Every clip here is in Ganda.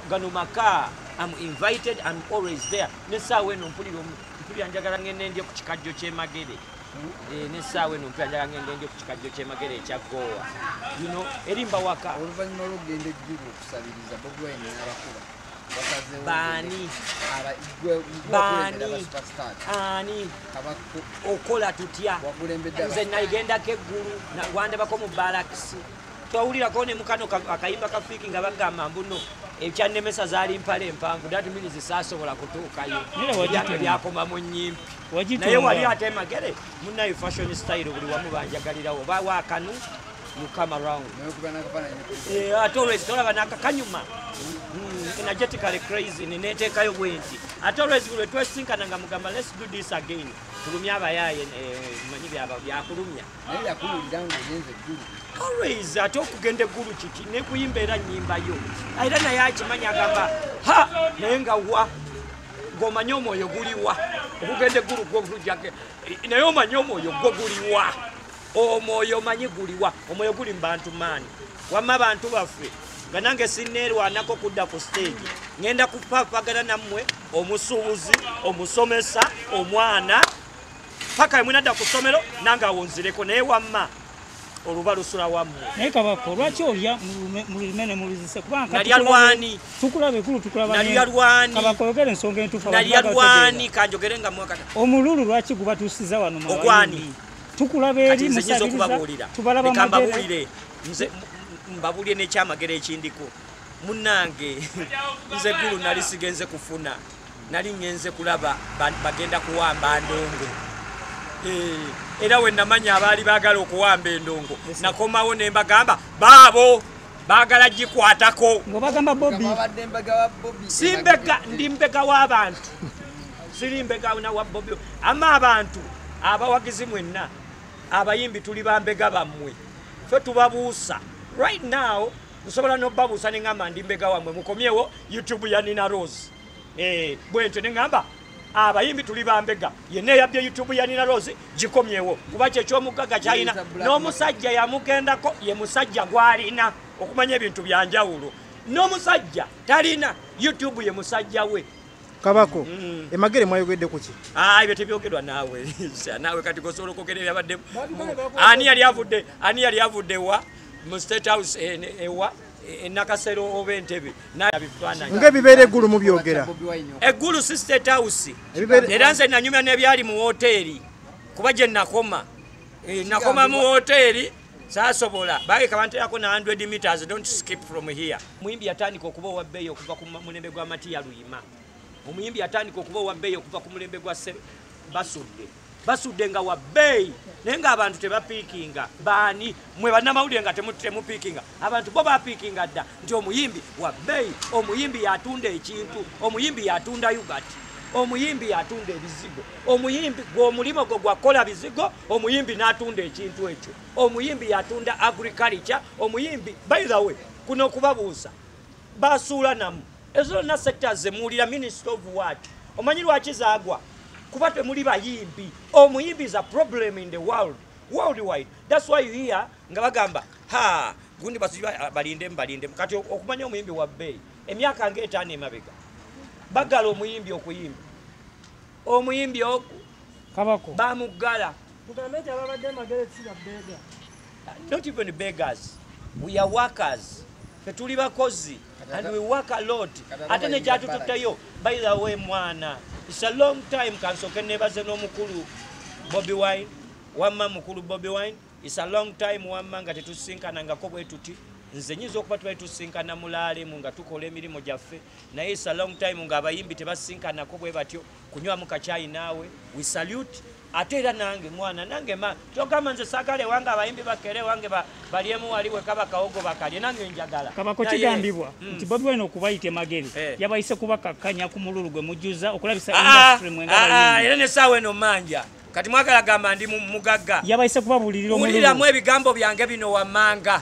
gano maka am invited am always there nesaawa eno mpulira mpulira njagala ngende ndye ku kikajjo kyemagere eh, nesaawa eno mpulira njagala ngende ndye ku kikajjo kyemagere ekya goowa yuno erimba waka oluvannyuma lwokugenda ejjuba okusabiriza bobwine abakuba baani baani ani okola tutya nze nagendako eggulu wandabako mu balakisi twawulirako ne mukano akayimba ka fiki nga bagamba mbuno ekyannemesa zaali mpale empanvu dat means saasobola kutuukayo yate byakoma mu nyimpi naye wali ate magere munaye fashion style buli wamu banjagalirawo oba wakanu mukama round eh, ate olwezi tolaba nakakanyuma hmm, energetically crazy neneteekayo bwenti ate olwezi lwe twesinkana nga mugamba let's do this again tulumya abayaaye eh, manyi byakulumya naye yakuwulira ngaogenze eggulu always ate okugenda eggulu kiki nekuyimba era nyimbayo era naye akimanya agamba ha naye nga wa ng'omanyi omwoyo guliwa okugenda eggulu gwo gujjake naye omanyi omwoyo gwo guliwa omwoyo omanyi guliwa omwoyo guli mu bantu maani wamma bantu baffe nga nange sineerwanako kudda ku siteegi ŋenda kupapagana nammwe omusuubuzi omusomesa omwana paka yemwe nadda ku ssomero nange awonzireko naye wamma oluba lusula wammwe naye kabako lwaki olya mululime ne muluzise kubanganaliyalwani tukulaba ekulu tukulabanalyalwanikabako yogera ensonga entuufu nalyalwani kanjogere nga mwakata omululu lwaki gubatuusiza wano ogwani tukulaba eri musabiriza tubalaba magere nze mbabulye nekyamagero ekindiko munange nze gulu nali sigenze kufuna nali ŋŋenze kulaba bagenda kuwamba ndongo eh, era we namanya abaali baagala okuwamba endongo nakomawo ne mbagamba baabo baagala gikwatako simbega ndi mbega w'abantu siri mbega na wa bobi ama abantu abawagizi mwenna abayimbi tuli bambega bammwe fe tubabuusa right now nsobola nobabuusa ne ŋamba ndi mbega wammwe mukomyewo youtube ya nina rose eh, bwentyo neŋamba abayimbi tuli bambega yenna eyabye youtube yanina rose gikomyewo kuba kyekyomugaga kyalina n'omusajja yamugendako ye musajja gwalina okumanya ebintu byanjawulo n'omusajja talina youtube ye musajja we kabako mm. emagere mwayogedde kuki ah, ebyo tebyogerwa naawe naawe kati gosobola okwogera ebyabaddemu ani yali avudde ani yali avudde wa mu state house eh, ewa enakasero oba entebe ngaebibeera eggulu mubyogera eggulu si state house era nze nanyumya nebyali mu woteeri kuba gye nakoma eh, nakoma mu woteeri sasobola bage kabanterako na 100 meters don't skip from here muyimbi yatandika okuba owabbeeyi okuva ku mulembe gwa matiya luyima omuyimbi yatandika okuba owabbeeyi okuva ku mulembe gwa basudde basudde nga wa bbeeyi naye ngaabantu tebapiikinga baani mwe bannamawulire nga temupiikinga abantu bo bapiikinga dda nti omuyimbi wa bbeeyi omuyimbi yatunda ekintu omuyimbi yatunda ugati omuyimbi yatunda ebizigo omuyimbi gweomulimu gwe gwakukola bizigo omuyimbi n'atunda ekintu ekyo omuyimbi yatunda agriculture omuyimbi by the way kuno okubabuuza basuula namu ezo zonna sectors zemuwulira minister of what omanyi lwaki zagwa kuba temuli bayimbi omuyimbi is a problem in the world worldwide that's why you hear nga bagamba ha gundi balinde mbalinde kati okumanya omuyimbi wa bbeeyi emyaka nga etaano emabega bagala omuyimbi okuyimba omuyimbi oku kabako bamuggala not even beggars we are workers fe tuli bakozi and we work a lot ate nekyatututteyo by the way mwana its a long time kansoke nebaze n'omukulu bobi wine wamma mukulu bobi wine its a long time wamma nga tetusinkanangako bwetuti nze nyinza okuba tubali tusinkana mulaalemu nga tukola emirimu gyaffe naye its a long time nga abayimbi tebasinkanako bwe batyo kunywamu kakyayi naawe we salute ate era nange mwana nange ma kyogamba nze sagala ewange abayimbi bakere ewange balyemu wali wekaba kawogo bakalye nange njagala kabako kigambibwa mm. nti bobi wine okubayita emagere eh. yabayise kubakakkanya ku mululu gwe mujjuza okulabisa ah, industry mwe nga ah, ah, era nesaawa eno manja kati mwagala gamba ndi mugagga yabayise kubabuulirira omululu ebigambo byange bino wammanga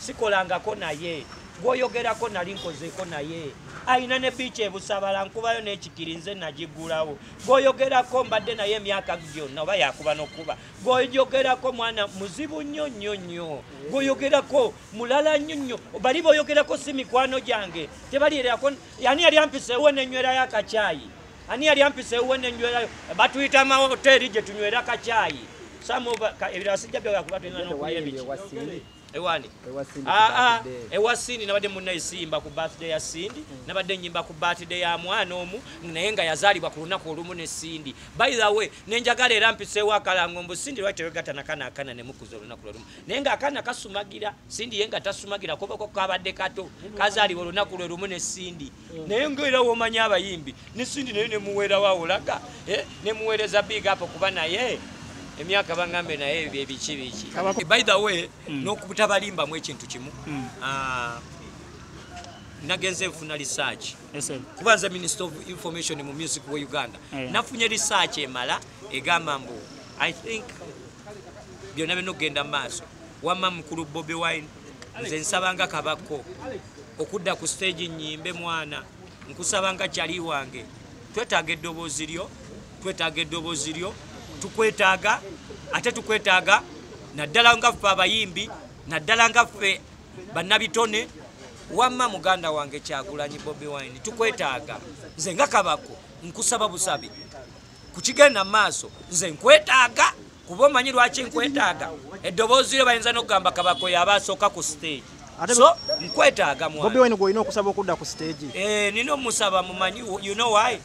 sikolangako naye gwoyogerako nali nkozeeko naye alina ne biiki ebusabala nkubayo n'ekikiri nze nagigulawo gwoyogerako mbadde naye emyaka gyonna oba yakuba nokuba gwoyogerako mwana muzibu nnyo nnyo nnyo gwoyogerako mulala nnyo nnyo bali boyogerako si mikwano gyange tebalierako yani yali ampiseewo nenywerayo akakyayi ani yali ampisa ewuwe nenywerayo batuyita mawoteeri gye tunywera kakyayi ebirala sijja byoga kuba tulina nokulya biki ewani ah, ah, ewa sindi nabadde muna esimba ku birthday ya sindi mm. nabadde nyimba ku birthday ya mwana omu naye nga yazaalibwa ku lunaku olumu ne sindi by the way nenjagala era mpiseewo akalango mbu sindi lwaki tewegata nakana akana nemukuza olunaku lwolumu naye nga akana kasumagira sindi ye nga tasumagira kobako kabadde kato kazaalibwa olunaku lwe lumu ne sindi naye ngaera womanya abayimbi nesindi naye nemuweerawo awolaga eh, nemuweereza big up kuba naye emyaka bangambe naye byebiki biki by the way mm. nokutabalimbamu ekintu kimu mm. ah, nagenze nfuna research kuba nze minister of information mu music wa uganda eh. nafunye research emala egamba mbu i think byonna bino okugenda mu maaso wamma mukulu bobi wine nze nsaba nga kabakko okudda ku siteegi nnyimbe mwana nkusaba nga kyali wange twetaaga eddoboozi lyo twetaaga eddoboozi lyo tukwetaaga ate tukwetaaga naddala nga ffe abayimbi naddala nga ffe bannabitone wamma muganda wange kyagulanyi bobi wine tukwetaaga nze nga kabakko nkusaba busabi ku kigenda mu maaso nze nkwetaaga kuba omanyi lwaki nkwetaaga eddoboozi lyo bayinza n'okugamba kabakoyo aba asooka ku siteegi so nkwetaaga mwabobi wine gwolina okusaba okudda ku siteegi eh, nina omusaba mumanyi you know why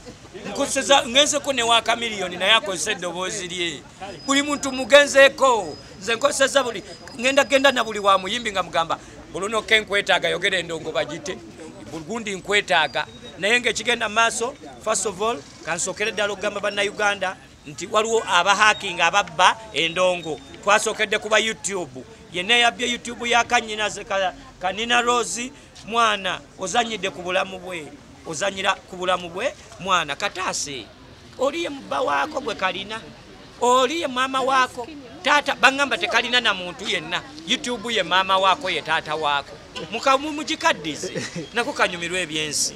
nkuseza ngenzeko ne wa kamiliyoni naye akozesa eddoboozi lye buli muntu mugenzeeko nze nkozeseza buli ngenda genda na buli wa muyimbi nga mugamba bulunoke nkwetaaga yogera endongo bagite burgundi nkwetaaga naye ngaekigenda maaso first of all kansookere ddala okugamba bannayuganda nti waliwo abahakinga ababba endongo twasookedde kuba youtube yenna yabbye youtube ya kanyina kanina rosi mwana ozanyidde ku bulamu bwe ozanyira ku bulamu bwe mwana kataase oliye mubba waako gwe kalina oliye maama waako taata baŋŋamba tekalina na muntu yenna youtube ye maama waako ye taata waako mukamumugikaddize nako kanyumirwa ebyensi